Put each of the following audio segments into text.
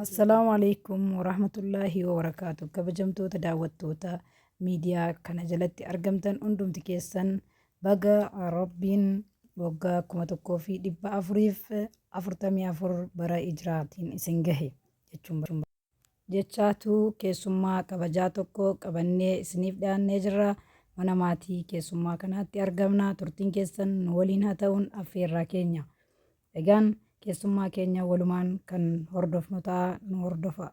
Assalaamu alaikum warahmatullaahi wabarakaatu kabajamtoota daawwattoota miidiyaa kana jalatti argamtan hundumti keessan baga rabbiin waggaa kuma tokkoo fi dhibba afuriif afurtamii afur bara ijraatiin isin gahe jechuun jechaatu keessummaa kabajaa tokko qabannee isiniif dhiyaannee jirra mana maatii keessummaa kanaatti argamna turtiin keessan nu waliin haa ta'uun affeerraa keenya Egaan keessummaa keenya walumaan kan hordofnu ta'a nu hordofaa.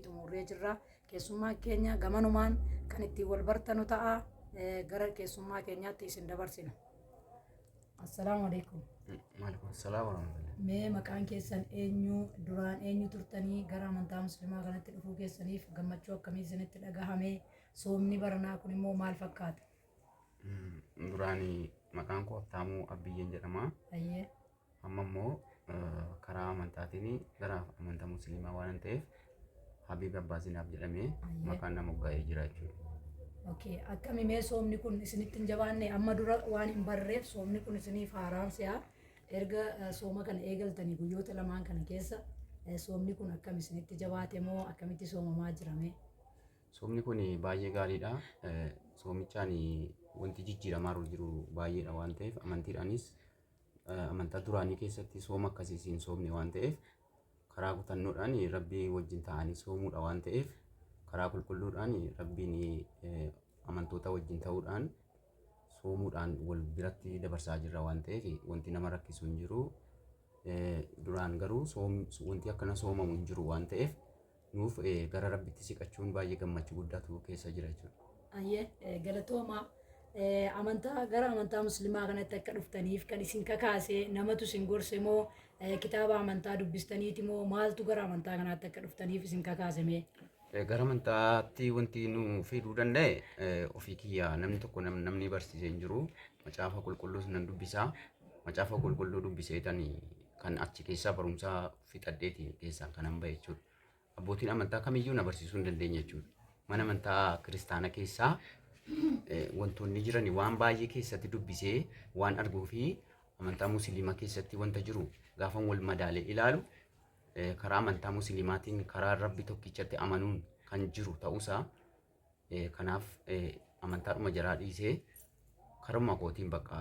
xumurree jirra. Keessummaa keenya gamanumaan kan ittiin wal bartanu ta'a. Eh, Gara keessummaa keenyaatti isin dabarsina. Assalaamu alaikum. Maaleykum salaam warahmatullahi. Mee maqaan keessan eenyu duraan eenyu turtanii gara amantaa musliimaa kanatti dhufuu keessaniif gammachuu akkamii isinitti dhagahame soomni baranaa kun immoo maal fakkaata? Duraan maqaan koo Habtaamuu Abbiyyeen jedhama. Ayyee. Amma immoo karaa amantaatiin gara amantaa musliimaa waan ta'eef Habiib Abbaa Zinaab jedhamee Ayyee. maqaan na moggaa'ee jira jechuudha. Okay. Akkami mee soomni kun isinitti hin jabaanne amma dura waan hin barreef soomni kun isiniif haaraan si'a erga eh, sooma kana eegaltanii guyyoota lamaan kana keessa eh, soomni kun akkam isinitti jabaate moo akkamitti soomamaa jirame? Soomni kun baay'ee gaariidha. Soomichaan wanti jijjiiramaa jiru baay'eedha waan ta'eef amantiidhaanis amantaa duraanii keessatti sooma akkasii siin soomne waan ta'eef karaa kutannoodhaan rabbii wajjin ta'anii soomuudha waan ta'eef karaa qulqulluudhaan rabbiin amantoota wajjin ta'uudhaan soomuudhaan wal biratti dabarsaa jirra waan ta'eef wanti nama rakkisu hin jiru. Duraan garuu wanti akkana soomamu hin jiru waan ta'eef nuuf gara rabbitti siqachuun baay'ee gammachuu guddaatu keessa jira jechuudha. Ayyee galatoomaa amantaa gara amantaa muslimaa kanatti akka dhuftaniif kan isin kakaase namatu isin gorse moo kitaaba amantaa dubbistaniiti moo maaltu gara amantaa kanaatti akka dhuftaniif isin kakaase mee? Gara amantaatti wanti nu fiduu danda'e ofii kiyya namni tokko namni barsiisee hin jiru macaafa qulqulluus nan dubbisa macaafa qulqulluu dubbiseetani kan achi keessaa barumsa fixadheeti keessaan kanan ba'e jechuudha. Abbootiin amantaa kamiyyuu na barsiisuu hin dandeenye jechuudha. Mana amantaa kiristaana keessaa eh, wantoonni jiran waan baay'ee keessatti dubbisee waan arguu fi amantaa musliimaa keessatti wanta jiru gaafan wal madaalee ilaalu eh, karaa amantaa musliimaatiin karaa rabbi tokkichatti amanuun kan jiru ta'uusaa Eh, kanaaf eh, amantaadhuma jaraa dhiisee karuma kootiin bakka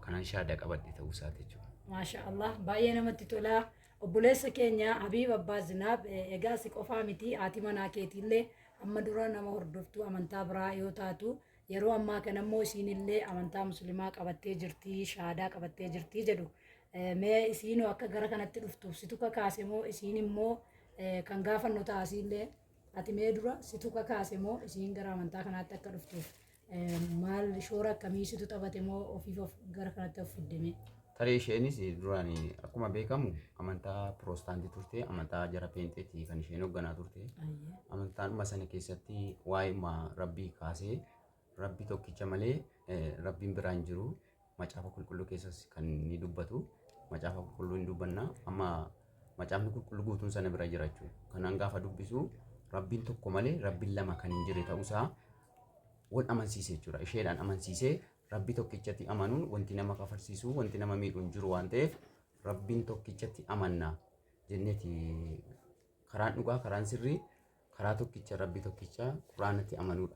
kanan shaada qabadhe ta'uu isaati jechuudha. Maasha Allah baay'ee namatti tola. Obboleessa keenya Habiib Abbaa Zinaab eh, egaa si qofaa miti haati manaa keetiillee amma dura nama hordoftuu amantaa biraa yoo taatu yeroo ammaa kana immoo isiinillee amantaa muslimaa qabattee jirti shaadaa qabattee jirti jedhu. Eh, Mee isiinoo akka gara kanatti dhuftuuf situ kakaase moo isiin immoo eh, kan gaafannu taasiillee Ati mee dura situ kakaase moo isiin gara amantaa kanaatti akka dhuftu maal shoora akkamii situ taphate moo ofiif of gara kanatti of fidde mee? Tarii isheenis duraan akkuma beekamu amantaa piroostaantii turte amantaa jara peenxeetii kan isheen hoogganaa turte. Amantaanuma sana keessatti waa'ima rabbii kaasee Rabbi tokkicha malee Rabbiin biraa hin jiru. Macaafa qulqulluu keessas kan ni dubbatu. Macaafa qulqulluu hin dubbanna. Amma macaafni qulqulluu guutuun sana bira jira jechuudha. Kanaan gaafa dubbisu Rabbiin tokko malee Rabbiin lama kan hin jirre ta'uusaa wal amansiise jechuudha. Isheedhaan amansiisee Rabbi tokkichatti amanuun wanti nama kafarsiisu, wanti nama miidhu hin jiru waan ta'eef Rabbiin tokkichatti amanna jenneeti karaan dhugaa, karaan sirrii, karaa tokkicha Rabbi tokkicha Quraanatti amanuudha.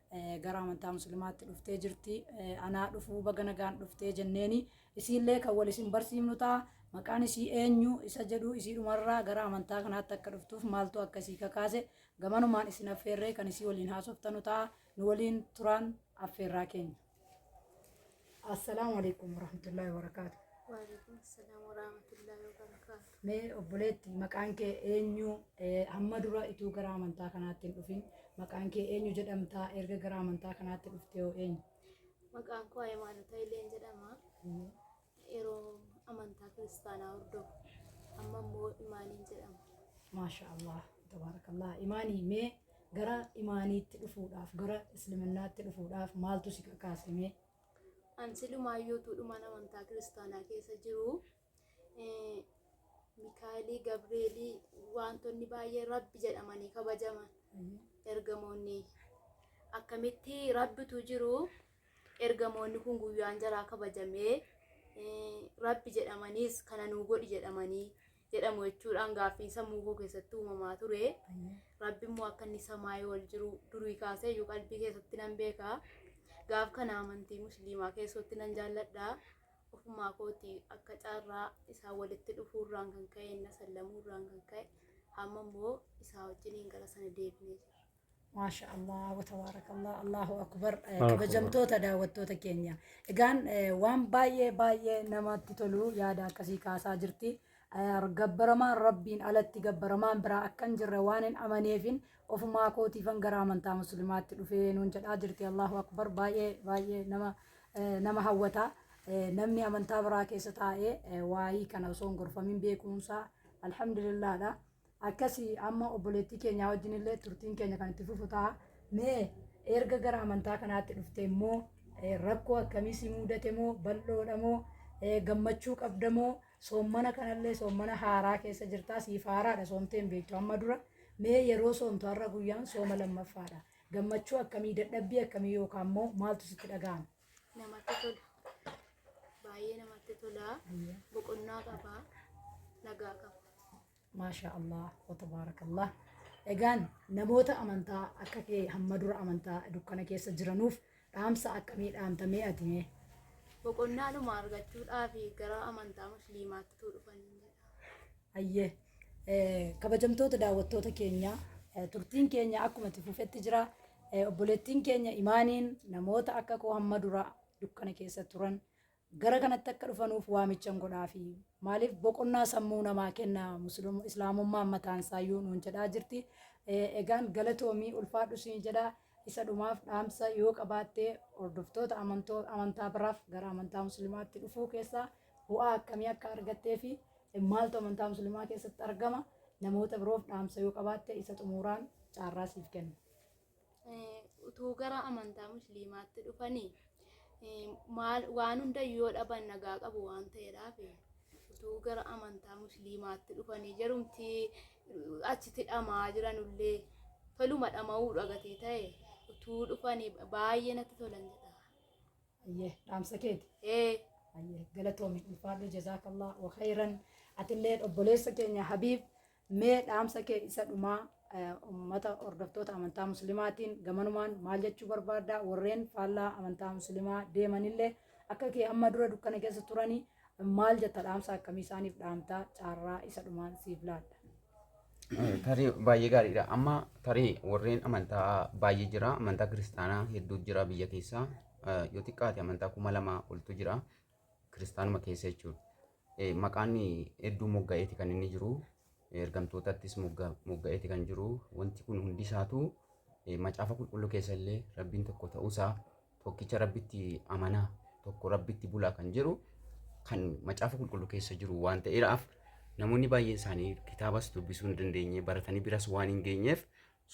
gara amantaa muslimaatti dhuftee jirti anaa dhufuu baga nagaan dhuftee jenneeni isiillee kan wal isin barsiifnu ta'a maqaan isii eenyu isa jedhu isii dhumarraa gara amantaa kanaatti akka dhuftuuf maaltu akka isii kakaase gamanumaan isin affeerree kan isii waliin haasoftanu ta'a nu waliin turaan affeerraa keenya. Assalaamu alaikum warahmatullahi wabarakaatu. Waalaikum salaam warahmatullahi wabarakaatu. Mee obboleetti maqaan kee eenyu Eh, hamma dura ituu gara amantaa kanaatti hin dhufin maqaan kee eenyu jedhamtaa erga gara amantaa kanaatti dhuftee hoo eenyu? Maqaan koo Hayimaanotaa Ileen jedhama. Yeroo amantaa kiristaanaa hordofu. Amma immoo imaaniin jedhama. Maasha Allah, tabaarakallah. Imaanii mee gara imaaniitti dhufuudhaaf, gara Islaamummaatti dhufuudhaaf maaltu si kakaase mee? An silumaayyuu tuudhumaan amantaa kiristaanaa keessa jiru. Eh, Mikaa'elii, Gabreelii wantoonni baay'ee rabbi jedhamanii kabajaman ergamoonni. Akkamitti rabbitu jiru Ergamoonni kun guyyaan jaraa kabajamee rabbi jedhamaniis kana nuu godhi jedhamanii jedhamu jechuudhaan gaaffiin sammuu koo keessatti uumamaa ture. Rabbi immoo akka inni samaayii ol jiru durii kaasee iyyuu qalbii keessatti nan beeka. Gaaf kana amantii musliimaa keessatti nan jaalladha. Ofumaa kooti akka carraa isaa walitti dhufuurraan kan ka'e na sallamuu irraan kan ka'e amma immoo isaa wajjiniin gara sana deebinee jira. Maasha Allah wa tabaarakallah Allahu akbar Eh, Allahu kabajamtoota daawwattoota keenya egaan eh, waan baay'ee baay'ee namatti tolu yaada akkasii kaasaa jirti Eh, gabbaramaan rabbiin alatti gabbaramaan biraa akka hin jirre waan hin amaneefin ofumaa kootiifan gara amantaa muslimaatti dhufee nuun jedhaa jirti Allahu akbar baay'ee baay'ee nama eh, nama hawwata Eh, namni amantaa biraa keessa taa'ee eh, waa'ii kana osoo hin gorfamin beekuunsaa alhamdulillaadha Akkasi amma obboleettii keenyaa wajjin illee turtiin keenya kan itti fufu ta'a. Mee erga gara amantaa kanaatti dhufte immoo eh, rakkoo akkamii si mudate moo bal'oodha moo eh, gammachuu qabda moo soommana kanallee soommana haaraa keessa jirtaa siif haaraadha soomtee hin beektu amma dura mee yeroo soomtu har'a guyyaan sooma lammaffaadha. Gammachuu akkamii dadhabbii akkamii yookaan immoo maaltu sitti dhaga'ama? namatti tola. Baay'ee namatti tola. Boqonnaa qaba. Nagaa qaba. Maashaa Allah wa tabaarakallah. Egaan namoota amantaa akka kee hamma dura amantaa dukkana keessa jiranuuf dhaamsa akkamii dhaamtamee ati mee? Boqonnaa dhuma argachuudhaaf gara amantaa musliimaatti tuu dhufan jedha. Ayyee eh, kabajamtoota daawwattoota keenya eh, turtiin keenya akkuma itti fufetti jira. Eh, Obboleettiin keenya imaaniin namoota akka koo hamma dura dukkana keessa turan Gara kanatti akka dhufanuuf waamichan godhaafi. Maaliif boqonnaa sammuu namaa kenna Muslim, Islaamummaan mataan isaayyuu nuun jedhaa jirti. Eh, Egaan galatoomi ulfaadhu siin jedha. Isa dhumaaf dhaamsa yoo qabaatte hordoftoota amantoo, amantaa biraaf gara amantaa muslimaatti dhufuu keessaa bu'aa akkamii akka argattee fi eh, maaltu amantaa muslimaa keessatti argama namoota biroof dhaamsa yoo qabaatte isa xumuraan caarraa siif kenna. utuu gara amantaa musliimaatti dhufanii waan hundayyuu yoo dhaban nagaa qabu waan ta'eedhaaf utuu gara amantaa musliimaatti dhufanii jedhumti achitti dhamaa jiranullee toluma dhama'uu dhagatii ta'e utuu dhufanii baay'ee natti tolan jedha. Ayyee dhaamsa keeti. Ee Ayyee galatoomi ulfaadhu jazaakallah wa khayran atillee obboleessa keenya Habiib Mee dhaamsa kee isa dhumaa ummata hordoftoota amantaa muslimaatiin gamanumaan maal jechuu barbaadda warreen faallaa amantaa muslimaa deemanillee akka kee amma dura dukkana keessa turanii maal jetta dhaamsa akkamii isaaniif dhaamtaa caarraa isa dhumaan siif laadha. Tarii baay'ee gaariidha. Amma tarii warreen amantaa baay'ee jira. Amantaa kiristaanaa hedduu jira biyya keessaa. Yoo xiqqaate amantaa kuma lama oltu jira. kiristaanuma keessa jechuudha. Eh, Maqaan hedduu mogga'eeti kan inni jiru. Eh, Ergamtootattis mogga- mogga'eeti kan jiru. Wanti kun hundi isaatu eh, macaafa qulqulluu keessa illee rabbiin tokko ta'uusaa tokkicha rabbitti amanaa tokko rabbitti bulaa kan jedhu kan macaafa qulqulluu keessa jiru waan ta'eedhaaf namoonni baay'een isaanii kitaabas dubbisuu hin dandeenye baratanii biras waan hin geenyeef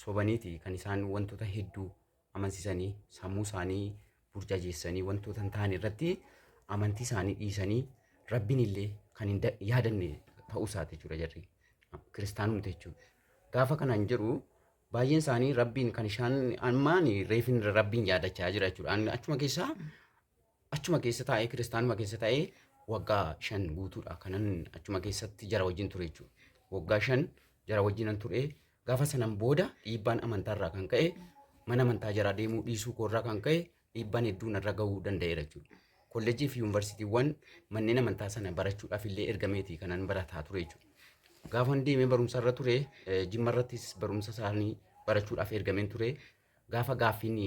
sobaniiti kan isaan wantoota hedduu amansisanii sammuu isaanii burjajeessanii wantoota hin taane irratti amantii isaanii dhiisanii rabbiin illee kan hin da- yaadanne ta'uu isaati jechuudha jarri kiristaanumti jechuudha. Gaafa kanaan jedhu baay'een isaanii rabbiin kan isaan ammaan reefin rabbiin yaadachaa jira jechuudha. An- Achuma keessaa Achuma keessa taa'ee kiristaanuma keessa taa'ee waggaa shan guutuudha kanan achuma keessatti jara wajjin ture jechuudha. Waggaa shan jara wajjinan ture gaafa sanan booda dhiibbaan amantaarraa kan ka'e mana amantaa jaraa deemuu dhiisuu koorraa kan ka'e dhiibbaan hedduun irra gahuu danda'eera jechuudha. Kolleejjii fi yuunivarsiitiiwwan manneen amantaa sana barachuudhaaf illee ergameeti kanan barataa ture jechuudha. Gaafan deemee barumsa irra ture jimma irrattis barumsa isaanii barachuudhaaf ergameen ture Gaafa gaaffiin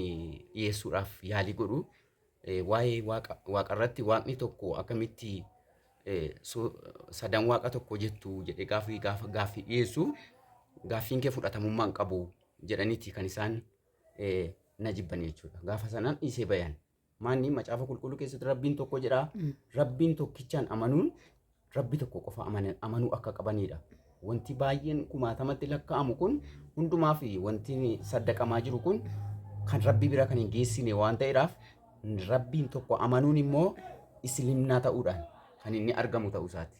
dhiyeessuudhaaf yaalii godhu waa'ee waaqa waaqarratti waaqni tokko akkamitti sadan waaqa tokko jettu jedhee gaaffii gaafa gaaffii dhiyeessu gaaffiin kee fudhatamummaa hin qabu jedhaniiti kan isaan na jibban jechuudha. Gaafa sanaan dhiisee bayan. Maanni macaafa qulqulluu keessatti rabbiin tokko jedha. Rabbiin tokkichaan amanuun rabbi tokko qofa amana- amanuu akka qabanidha. Wanti baay'een kumaatamatti lakkaa'amu kun hundumaa fi wanti saddaqamaa jiru kun kan rabbi bira kan hin geessine waan ta'eedhaaf rabbiin tokko amanuun immoo islimnaa ta'uudhaan kan inni argamu ta'uu isaati.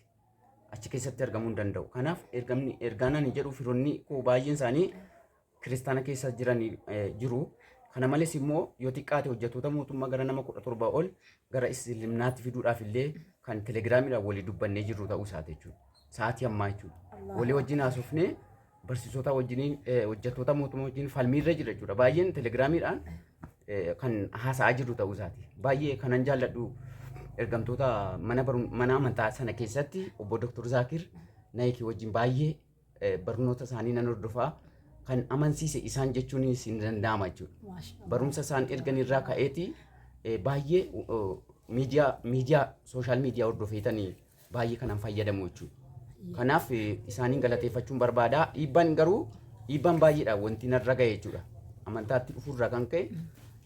Achi keessatti argamuu hin danda'u. Kanaaf ergamni ergaan ani jedhu firoonni koo baay'een isaanii kiristaana keessa jiran jiru. Kana malees immoo yoo xiqqaate hojjettoota mootummaa gara nama kudha torbaa ol gara Isliminaatti fiduudhaaf illee kan telegiraamiidhaan walii dubbannee jirru ta'uu isaati jechuudha. Sa'aatii ammaa jechuudha. Walii wajjin haasofnee barsiisota wajjiniin hojjettoota mootummaa wajjin falmiirra jira jechuudha. Baay'een telegiraamiidhaan kan haasa'aa jirru ta'uu isaati. Baay'ee kanan jaalladhu ergamtoota mana amantaa sana keessatti obbo Dr. Zaakir Naayikii wajjin baay'ee barnoota isaanii nan hordofaa kan amansiise isaan jechuunis hin danda'ama jechuudha. Maasha Allah. Barumsa isaan ergan irraa ka'eeti eh, baay'ee oh, miidiyaa miidiyaa sooshaal miidiyaa hordofeetanii baay'ee kanan fayyadamu jechuudha. Kanaaf eh, isaaniin galateeffachuun barbaada. Dhiibbaan garuu dhiibbaan baay'eedha wanti narra ga'e jechuudha. Amantaatti dhufuurraa kan ka'e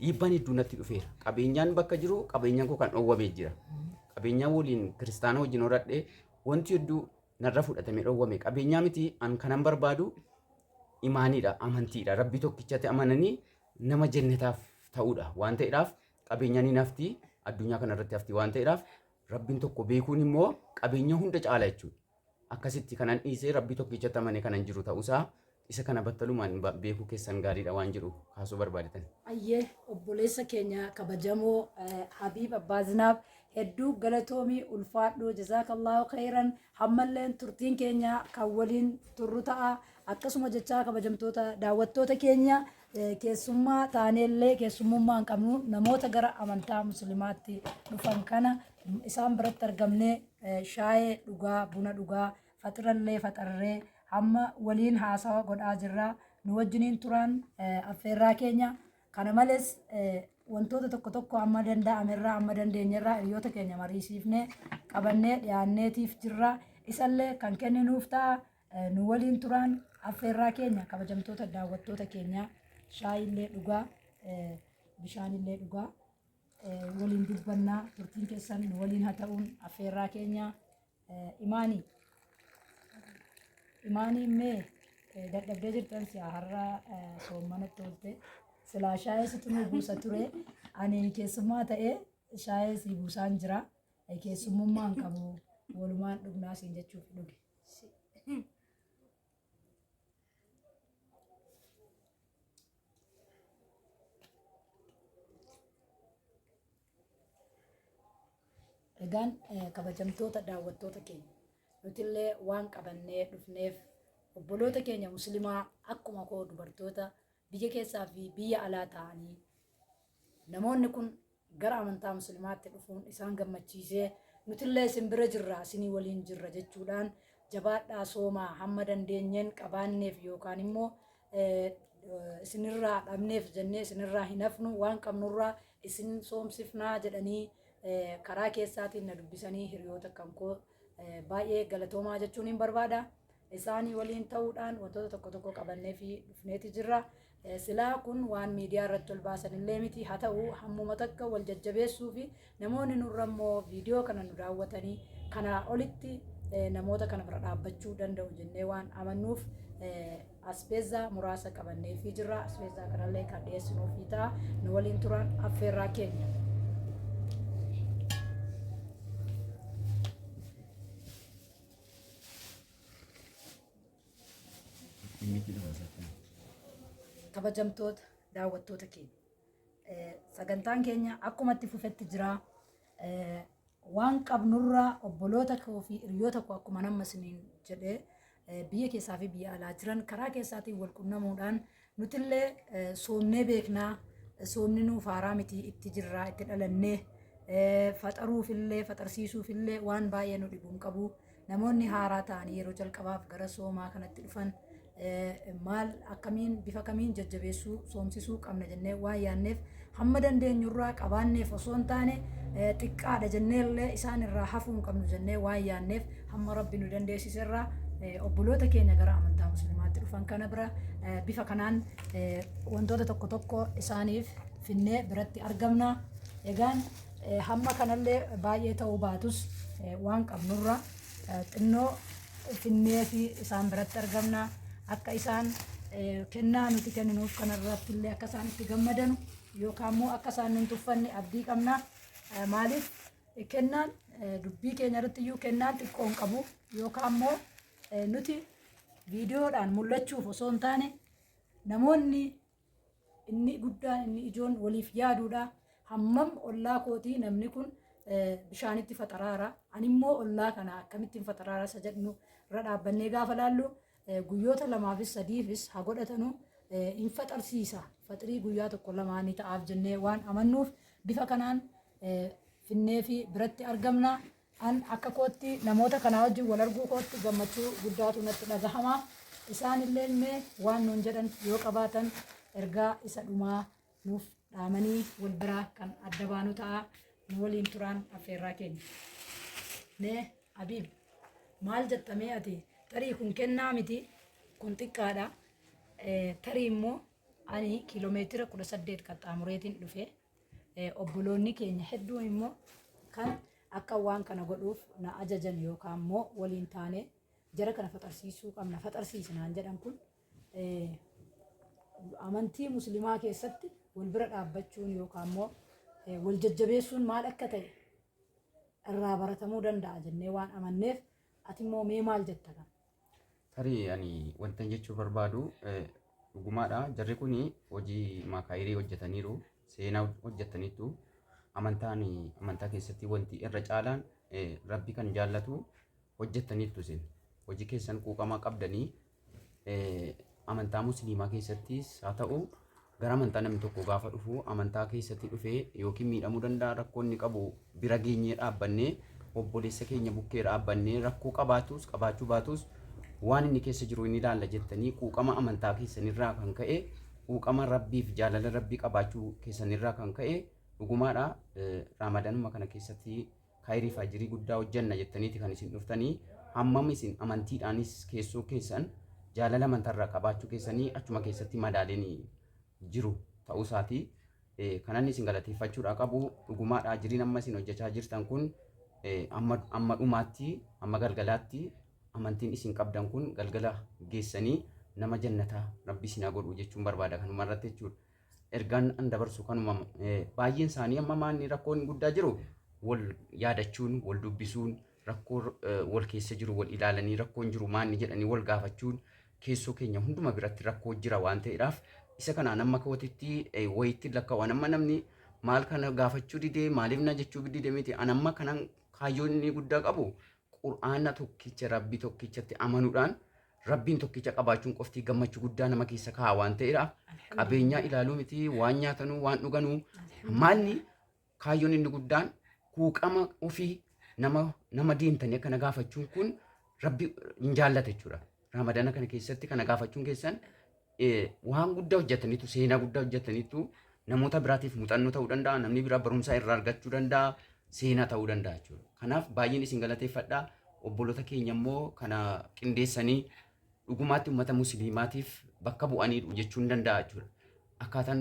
dhiibbaan hedduu natti dhufeera. Qabeenyaan bakka jiru qabeenyaan koo kan dhoowwamee jira. Qabeenyaa waliin kiristaana wajjin horadhee wanti hedduu narra fudhatame dhowwame qabeenyaa miti an kanan barbaadu imaaniidha amantiidha rabbii tokkichatti amananii nama jennataaf ta'uudha waan ta'eedhaaf qabeenyaan hin hafti addunyaa kana irratti hafti waan ta'eedhaaf rabbiin tokko beekuun immoo qabeenya hunda caala jechuudha akkasitti kanan dhiisee rabbii tokkichatti amane kanan jiru ta'uusaa Isa kana battalumaan beekuu keessan gaariidha waan jedhu kaasuu barbaadetani? Ayyee obboleessa keenya kabajamoo Habiib Abbaa Zinaab hedduu galatoomii ulfaadhu jazaakallaahu khayran hammalleen turtiin keenya kan waliin turru ta'a akkasuma jechaa kabajamtoota daawwattoota keenya keessummaa taaneellee keessummummaa hin qabnu namoota gara amantaa muslimaatti dhufan kana isaan biratti argamnee shaayee dhugaa buna dhugaa faxirallee faxarree hamma waliin haasawa godhaa jirra. Nu wajjiniin turaan affeerraa keenya. Kana malees wantoota tokko tokko amma danda'amerraa amma dandeenyerraa hiriyoota keenya mariisiifnee qabannee dhiyaanneetiif jirra. Isallee kan kenninuuf ta'a. Nu waliin turaan affeerraa keenya kabajamtoota daawwattoota keenya shaayiillee dhugaa bishaanillee dhugaa waliin dubbannaa turtiin keessan nu waliin haa ta'uun affeerraa keenya. Imaanii Imaanii mee dadhabdee jirtan si'a har'a soommanatti oolte silaa shaayee situ nu buusa ture ani keessummaa ta'ee shaayee si buusaan jira keessummummaan qabu walumaan dhugnaa siin jechuuf dhuge. Egaan eh, kabajamtoota daawwattoota keenya nutillee waan qabannee dhufneef obboloota keenya muslimaa akkuma koo dubartoota Biyya keessaa fi biyya alaa taa'anii namoonni kun gara amantaa muslimaatti dhufuun isaan gammachiisee nutillee isin bira jirra isinii waliin jirra jechuudhaan jabaadhaa soomaa hamma dandeenyeen qabaanneef yookaan immoo isinirraa dhabneef jennee isinirraa hin hafnu waan qabnurraa isin soomsifnaa jedhanii karaa keessaatiin na dubbisanii hiriyoota kan koo baay'ee galatoomaa jechuun hin barbaada. isaanii waliin ta'uudhaan wantoota tokko tokko qabannee fi dhufneeti jirra. Eh, Silaa kun waan miidiyaa irratti ol baasan illee miti haa ta'u hammuma takka wal jajjabeessuu fi namoonni nurra immoo viidiyoo kana nu daawwatanii kanaa olitti eh, namoota kana bira dhaabbachuu danda'u jennee waan amannuuf eh, aspeezaa muraasa qabannee fi jirra. Aspeezaa kanallee kan dhiyeessinuu fi ta'a nu waliin turan affeerraa keenya. kabajamtoota daawwattoota keenya Eh, sagantaan keenya akkuma itti fufetti jira Eh, waan qabnurraa obboloota koo fi hiriyoota koo akkuma nama isiniin jedhee eh, biyya keessaa fi biyya alaa jiran karaa keessaatiin wal qunnamuudhaan Nutillee soomnee beeknaa soomni nuuf haaraa miti itti jirraa itti dhalannee faxaruufillee faxarsiisuufillee waan baay'ee nu dhibuun qabu namoonni haaraa ta'anii yeroo jalqabaaf gara soomaa kanatti dhufan maal akkamiin bifa kamiin jajjabeessuu soomsisuu qabna jennee waan yaanneef Hamma dandeenyurraa qabaanneef osoo hin taane, xiqqaadha jennee illee isaan irraa hafuu hin qabnu jennee waan yaanneef hamma Rabbi nu dandeessise irraa obboloota keenya gara amantaa musliimaatti dhufan kana bira bifa kanaan wantoota tokko tokko isaaniif finnee biratti argamna. Egaan hamma kanallee baay'ee ta'uu baatus waan qabnurra xinnoo finneeti isaan biratti argamna akka isaan kennaa nuti kenninuuf kanarratti illee akka isaan itti gammadanu yookaan immoo akka isaan nun tuffanne abdii qabna maaliif kennaan dubbii keenya irratti iyyuu kennaan xiqqoon qabu yookaan immoo nuti viidiyoodhaan mul'achuuf osoo hin taane namoonni Inni guddaan inni ijoon waliif yaaduudha. Hammam ollaa kootii namni kun bishaanitti faxaraara. Animmoo ollaa kana akkamittiin faxaraara isa jedhnu irra dhaabbannee gaafa laallu guyyoota lamaafis sadiifis haa godhatanu hin faxarsiisa. Faxirii guyyaa tokko lamaa ni ta'aaf jennee waan amannuuf bifa kanaan finnee fi biratti argamna. An akka kootti namoota kanaa wajjin wal arguu kootti gammachuu guddaatu natti dhagahama. Isaan illeen mee waan nuun jedhan yoo qabaatan ergaa isa dhumaa nuuf dhaamanii wal biraa kan adda baanu ta'a. Nu waliin turaan affeerraa keenya. Mee Abiib maal jetta mee ati tarii kun kennaa miti kun xiqqaadha. Eh, Tarii immoo ani kiiloomeetira kudha saddeet qaxxaamureetiin dhufe. Obboloonni keenya hedduun immoo kan akka waan kana godhuuf na ajajan yookaan immoo waliin taane jara kana faxarsiisuu qabna faxarsiisi naan jedhan kun amantii muslimaa keessatti wal bira dhaabbachuun yookaan immoo wal jajjabeessuun maal akka ta'e irraa baratamuu danda'a jennee waan amanneef Ati immoo mee maal jetta kan? Tarii ani wantan jechuu barbaadu eh, dhugumaadha. Jarri kun hojii maakaayirii hojjetaniiru, seenaa hojjetaniitu. Amantaan amantaa keessatti wanti irra caalaan eh, rabbi kan jaallatu hojjettaniittu isin. Hojii keessan quuqamaa qabdanii amantaa musliimaa keessattis haa ta'u gara amantaa namni tokko gaafa dhufu amantaa keessatti dhufee yookiin miidhamuu danda'a rakkoo inni qabu bira geenyee dhaabbannee obboleessa keenya bukkee dhaabbannee rakkoo qabaatus qabaachuu baatus waan inni keessa jiru inni ilaalla jettanii quuqama amantaa keessanirraa kan ka'e quuqama rabbiif jaalala rabbii qabaachuu keessanirraa kan ka'e dhugumaadha raamadanuma kana keessatti Kayrii fi Ajrii guddaa hojjanna jettaniiti kan isin dhuftanii, hammam isin amantiidhaanis keessoo keessan jaalala amantaa irraa qabaachuu keessanii achuma keessatti madaaleen jiru ta'uu isaati. Kan anni isin galateeffachuudhaa qabu dhugumaadha ajriin amma isin hojjachaa jirtan kun amma amma dhumaatti amma galgalaatti amantiin isin qabdan kun galgala geessanii nama jannataa rabbi isin haa godhu jechuun barbaada kanuma irratti jechuudha. Ergaan an dabarsu kanuma baay'een isaanii amma maanni rakkoon guddaa jiru wal yaadachuun wal dubbisuun rakkoo wal keessa jiru wal ilaalanii rakkoon jiru maanni jedhanii wal gaafachuun keessoo keenya hunduma biratti rakkoo jira waan ta'eedhaaf isa kanaan amma kootitti wayitti lakkaa'u amma namni maal kana gaafachuu didee maaliif na jechuu dide miti an amma kanan kaayyoon inni guddaa qabu qur'aana tokkicha rabbi tokkichatti amanuudhaan Rabbiin tokkicha qabaachuun qofti gammachu guddaa nama keessa kaa'a waan ta'eera. Qabeenyaa ilaaluu miti waan nyaatanuu waan dhuganuu maalni kaayyoon inni guddaan kuuqama ofii nama nama deemtanii akkana gaafachuun kun rabbi hin jaallata jechuudha. Ramadana kana keessatti kana gaafachuun keessan waan guddaa hojjetaniitu seenaa guddaa hojjetaniitu namoota biraatiif muuxannoo ta'uu danda'a namni biraa barumsa irraa argachuu danda'a seenaa ta'uu danda'a jechuudha. Kanaaf baay'een isin galateeffadha obboloota keenya immoo kana qindeessanii dhugumaatti uummata musliimaatiif bakka bu'anii jechuun danda'a jechuudha. Akkaataan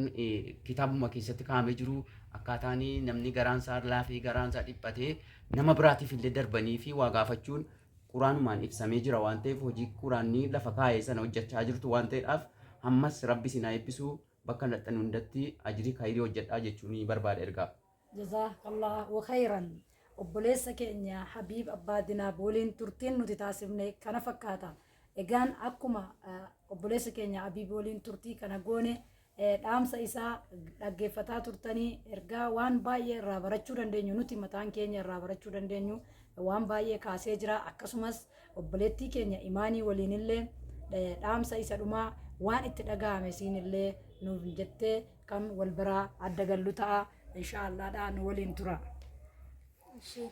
kitaabuma keessatti kaa'amee jiru akkaataan namni garaan isaa laafee garaan isaa dhiphatee nama biraatiif illee darbanii fi waa gaafachuun Quraanumaan ibsamee jira waan ta'eef hojii quraanni lafa kaa'e sana hojjachaa jirtu waan ta'edhaaf hammas rabbi isin haa eebbisu bakka dhaqxan hundatti ajrii kayrii hojjadhaa jechuun barbaada ergaa. Jazaak Allaahu kheeyran Obboleessa keenya Habiib Abbaa Dinaab waliin turtiin nuti taasifne kana fakkaata. Egaan akkuma obboleessa keenya Habiib waliin turtii kana goone dhaamsa isaa dhaggeeffataa turtanii ergaa waan baay'ee irraa barachuu dandeenyu nuti mataan keenya irraa barachuu dandeenyu waan baay'ee kaasee jira akkasumas obboleettii keenya imaanii waliinillee dhaamsa isa dhumaa waan itti dhaga'ame siinillee nuuf jettee kan wal biraa adda gallu ta'a inshaallaadhaa nu waliin tura. Ishee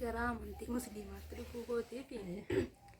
garaa amantii musliimaatti dhufuu kootiif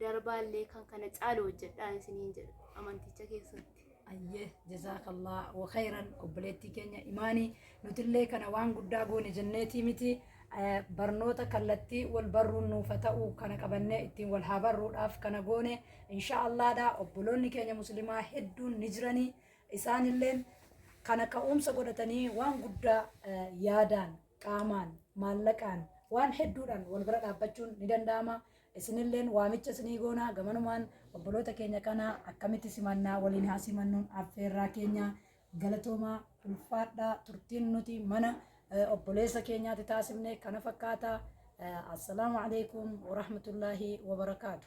darbaallee kan kana caalu hojjedhaa isiniin jedha amanticha keessatti. Ayyee jazaakallah wa khayran obboleettii keenya imaanii nutillee kana waan guddaa goone jenneetii miti Eh, barnoota kallattii wal barruun nuufa ta'u kana qabannee ittiin wal haa barruudhaaf kana goone insha allaadha obboloonni keenya muslimaa hedduun ni jiranii isaanilleen kana ka'umsa godhatanii waan guddaa eh, yaadaan qaamaan maallaqaan waan hedduudhaan wal bira dhaabbachuun ni danda'ama Isinilleen waamicha isinii goona, gamanumaan obboloota keenya kana akkamitti simannaa? Waliin haa simannuun affeerraa keenya. Galatoomaa, ulfaadhaa, turtiin nuti mana obboleessa keenyaati taasifne kana fakkaata. Assalaamu alaikum warahmatullaahi wabarakaatu.